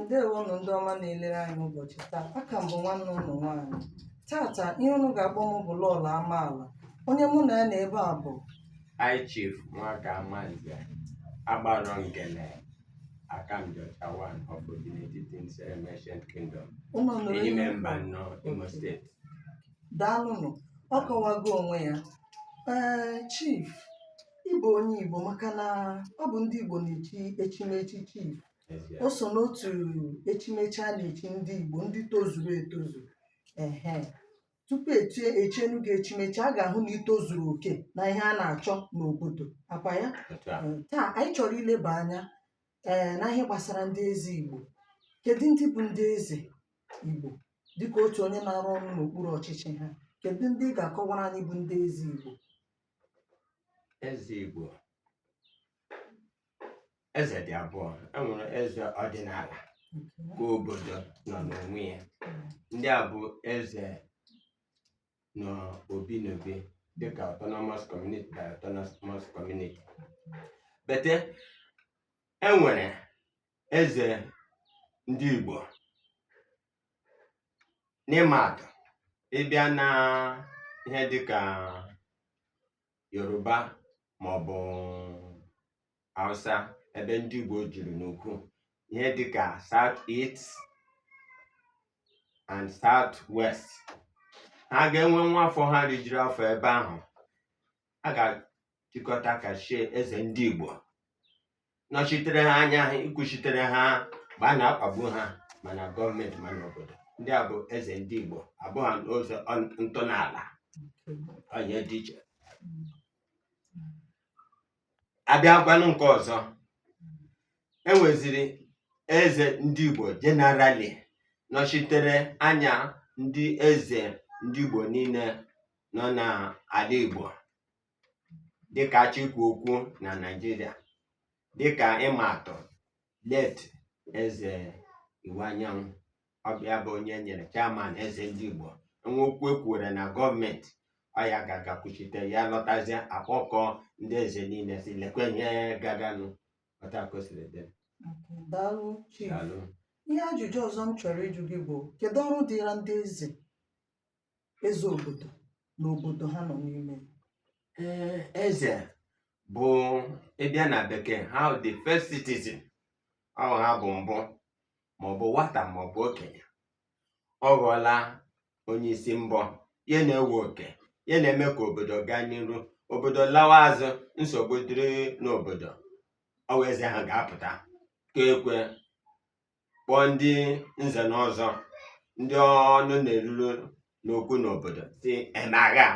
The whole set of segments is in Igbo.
ndewonụ ndị ọma na-elere anyị n'ụbọchị taa aka m bụ nwanne unu nwaanyị tata ihe unu ga-akpọ m bụ Lọlọ amaala onye mụ na ya nọ ebe a bụ High Chief Nwaka Amanze agbara ngene Akamjọcha one of Obinetiti Nzerem Ancient Kingdom ụlọ nụrụ Ehime Mbano Imo steeti daalụnụ ọ kọwago onwe ya ee chief ị bụ onye igbo maka na ọ bụ ndị igbo na-echi echimechi chief N'ezie. o so n'otu echimechi a na-echi ndị igbo ndị tozuru etozu ehe tupu e chienu gị echimechi a ga-ahụ na i tozuru oke na ihe a na-achọ n'obodo akwa ya Otu a. Ee, taa anyị chọrọ ileba anya ee na ihe gbasara ndị eze Igbo kedu ndị bụ ndị eze Igbo dịka otu onye na-arụ ọrụ n'okpuru ọchịchị ha kedu ndị ị ga-akọwara anyị bụ ndị eze Igbo eze igbo eze dị abụọ e nwere eze ọdịnala ka obodo nọ n'onwe ya ndị a bụ eze nọ obi n'obi dịka autonomous community by autonomous community but e nwere eze ndị Igbo n'ịma atụ ị bịa na ihe dịka Yoruba maọbụ Hausa ebe ndị Igbo juru n'ukwu ihe dịka South East and South West ha ga-enwe nwa afọ ha rijuru afọ ebe ahụ a ga-achịkọta ka chie eze ndị Igbo nọchitere ha anya ikwuchitere ha mgbe a na-akpagbu ha ma na gọọmenti ma n'obodo ndị a bụ eze ndị Igbo abụghị n'ụzọ ọn- ntọala onye dị iche a bịakwanụ nke ọzọ e nweziri eze ndị Igbo general nọchitere anya ndị eze ndị Igbo niile nọ n'ala Igbo dịkà a chọọ ikwu okwu nà Nigeria dịkà ịmà àtụ̀ late ezè Iwuanyanwụ ọ bụ̀ ya bụ onye e nyèrè chairman ezè ndị Ìgbò e nwee okwu e kwùrè nà gọọmenti ọ yà gà-àgà kwùchite ya lọtazie à kpọkọọ ndị ezè niile sị lèkwe ihe gaganụ otu à kà o siri dị Daalụ Chief. dàalụ Ihe ajụjụ ọzọ m chọrọ ịjụ gị bụ kedu ọrụ dịra ndị eze? eze obodo n'obodo ha nọ n'ime ee eze bụ ịbịa na bekee ha the first citizen ọ ha bụ mbụ maọbụ nwata maọbụ okenye ọ ghọọla onye isi mbọ ya na-ewe oke ya na-eme ka obodo gaa n'iru obodo lawa azụ nsogbu dịrị n'obodo ọ wụ eze ha ga-apụta kụọ ekwe kpọọ ndị nze na ọzọ ndị ọnụ na-eruru n'okwu n'obodo si emagha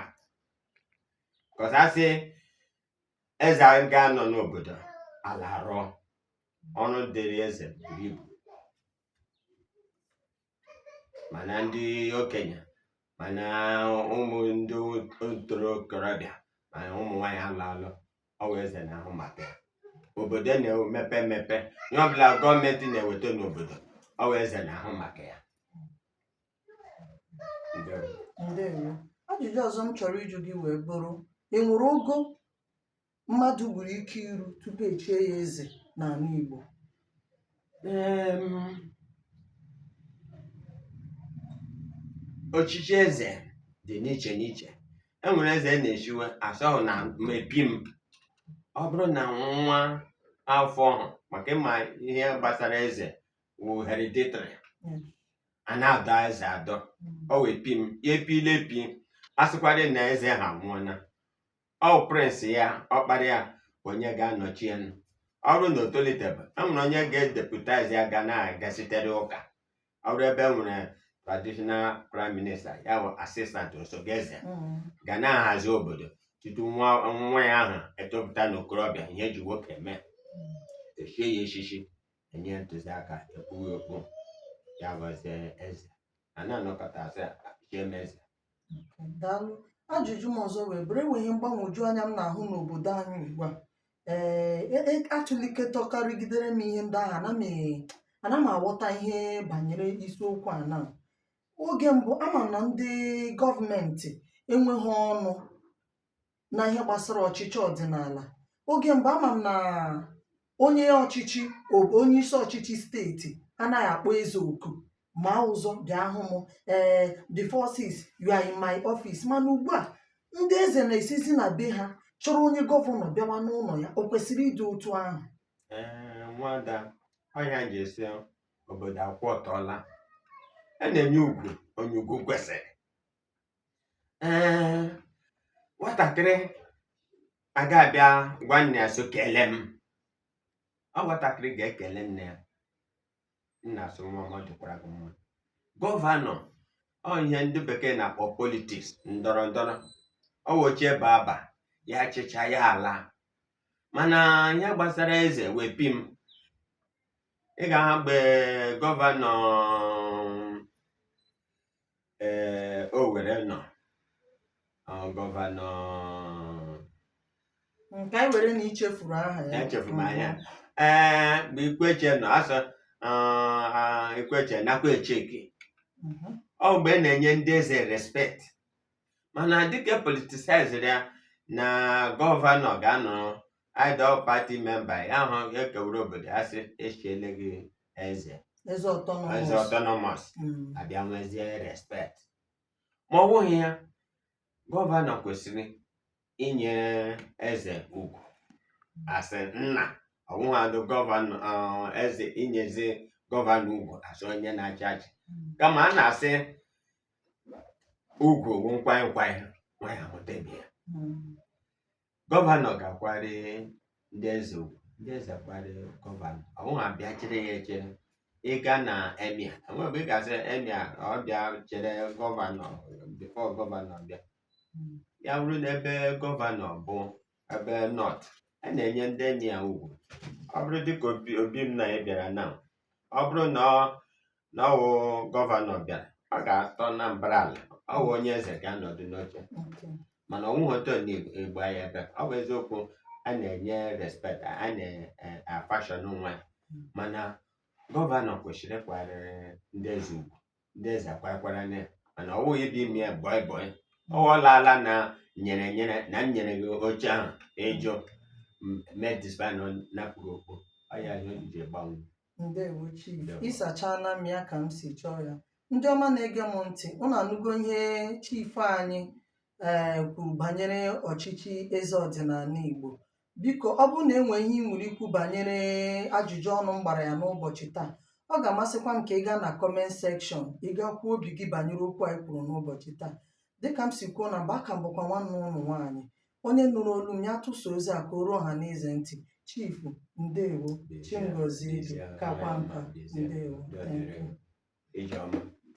kọsasị eze ga-anọ n'obodo ala rụọ ọrụ dịrị eze buru ibu mana ndị okenye mana ụmụ ndị ntorobịa mana ụmụ nwaanyị alụ alụ ọ wụ eze na-ahụ maka ya obodo na-emepe emepe ihe ọbụla gọọmenti na-eweta n'obodo ọ wụ eze na-ahụ maka ya Ndewo. ndewo ajụjụ ọzọ m chọrọ ịjụ gị wee bụrụ e nwere ogo mmadụ nwere ike iru tupu echie ya eze n'ala Igbo ọchịchị eze dị n'iche n'iche e nwere eze a na-echiwe asọghị na mepi m ọ bụrụ na nwa afọ maka ịma ihe gbasara eze wụ hereditary a na-adọ eze adọ ọ wee pi m ya epile epi a sịkwara na eze ha nwụọna ọ prince ya ọkpara ya onye ga-anọchi ya ọ bụrụ na o tolitebe e nwere onye ga-edeputize ya ga na-agasitere ụka ọ bụrụ ebe e nwere traditional prime minister ya bụ assistant osote eze ga na-ahazi obodo tutu nwa nwa ya ahụ etopụta n'okorobịa ihe e ji nwoke eme echie ya echichi enye ntụziaka ekpuwe okpu ya ghọzie eze a na-anọkọta asị chie m eze Daalụ. Ajụjụ m ọzọ wee bụrụ, e nwere ihe mgbagwoju anya m na-ahụ n'obodo anyị ugbu a. Ee, e- e- atụlikọtọkarịgidere m ihe ndị ahụ, ana m e- ana m aghọta ihe banyere isiokwu a na oge mbụ ama m na ndị gọọmenti enweghị ọnụ na ihe gbasara ọchịchị ọdịnala oge mgbe ama m na onye ọchịchị o- onye isi ọchịchị steeti anaghị akpọ eze oku ma ụzọ bịa hụ m ee the forces you are in my office mana ugbu a ndị eze na-esizi na be ha chọrọ onye gọvanọ bịawa n'ụlọ ya o kwesịrị ịdị otu ahụ Ee, nwada ọhịa ji esi obodo akwụ ọtọọla a na-enye ugwu onye ugwu kwesịrị ee nwatakịrị aga abịa gwa nne ya so kele m ọ nwatakịrị ga-ekele nne ya nna asị nwa m ọ dịkwara gị mma gọvanọ ọ ihe ndị bekee na-akpọ politiks ndọrọ ndọrọ ọ wochie baba ya chịchaa ya alaa mana ihe gbasara eze wepi m ị gaa mgbe gọvanọ ee Owere nọ ọ, gọvanọ nke anyị nwere na ichefuru aha ya Echefuru m aha ya. ee mgbe Ikwechegh nọ asọ Ikwechegh nakwa echeke Mhm. ọ mgbe a na-enye ndị eze respekt mana dịka e politisaizịrị ya na gọvanọ ga-anọ adọ pati memba ya ahụ ekewuru obodo ya sị echiele gị eze eze autonomous autonomous mm. a bịa nwezie respect ma ọ bụghị ya gọvanọ kwesịrị inye eze ugwu asị nna ọbụghadụ gọvanọ uh, eze inyezi gọvanọ ugwu asị onye na-achị achị mm. kama a na-asị ugwu wụ nkwanye nkwanye nwanyị amụta ibe ya mm. gọvanọ ga-akwari ndị eze ugwu ndị eze akwari gọvanọ ọ bụghị abịa chere ya echere ị gaa na emia enwere ebe ị ga-asị emia ọ bịa chere gọvanọ bifo gọvanọ bịa ya bụrụ na ebe gọvanọ bụ ebe nọt a na-enye ndị emia ugwu ọ bụrụ dịka obi obi m na ya bịara na ọ bụrụ na ọ na ọwụ gọvanọ bịara ọ ga-atọ na mbara ala ọ bụ onye eze ga-anọdụ n'oche mana ọwụ hotel na-egbu anyị ebe ọ bụ eziokwu a na-enye respect a na-afashọn nwa ya. mana gọvanọ kwesịrị ịkwara ndị eze ugwu ndị eze akwakwara na ya mana ọwụghị ịbịa ime ya bọị bọị ọwụlaala na nyere nyere na m nyere gị oche ahụ ị jụ m mee disband napụ gị okpu ọ ya ihe ji gbanwe ndewo chief Ndewo. ị sachana m ya ka m si chọọ ya ndị ọma na-ege m ntị unu anụgo ihe chief anyị ee kwuru banyere ọchịchị eze ọdịnala igbo biko ọ bụrụ na e nwee ihe ị nwere ikwu banyere ajụjụ ọnụ m gbara ya n'ụbọchị taa ọ ga-amasịkwa m ka ị gaa na kọment sekshọn ị gaa kwuo obi gị banyere okwu anyị kwuru n'ụbọchị taa dịka m si kwuo na mbụ aka m bụkwa nwanne unu nwaanyị onye nụrụ olu m ya tụsa ozi a ka o ruo ọha na eze ntị chifu ndewo chi m gọzie gị kakwa nka ndewo thank you. Ijeọma.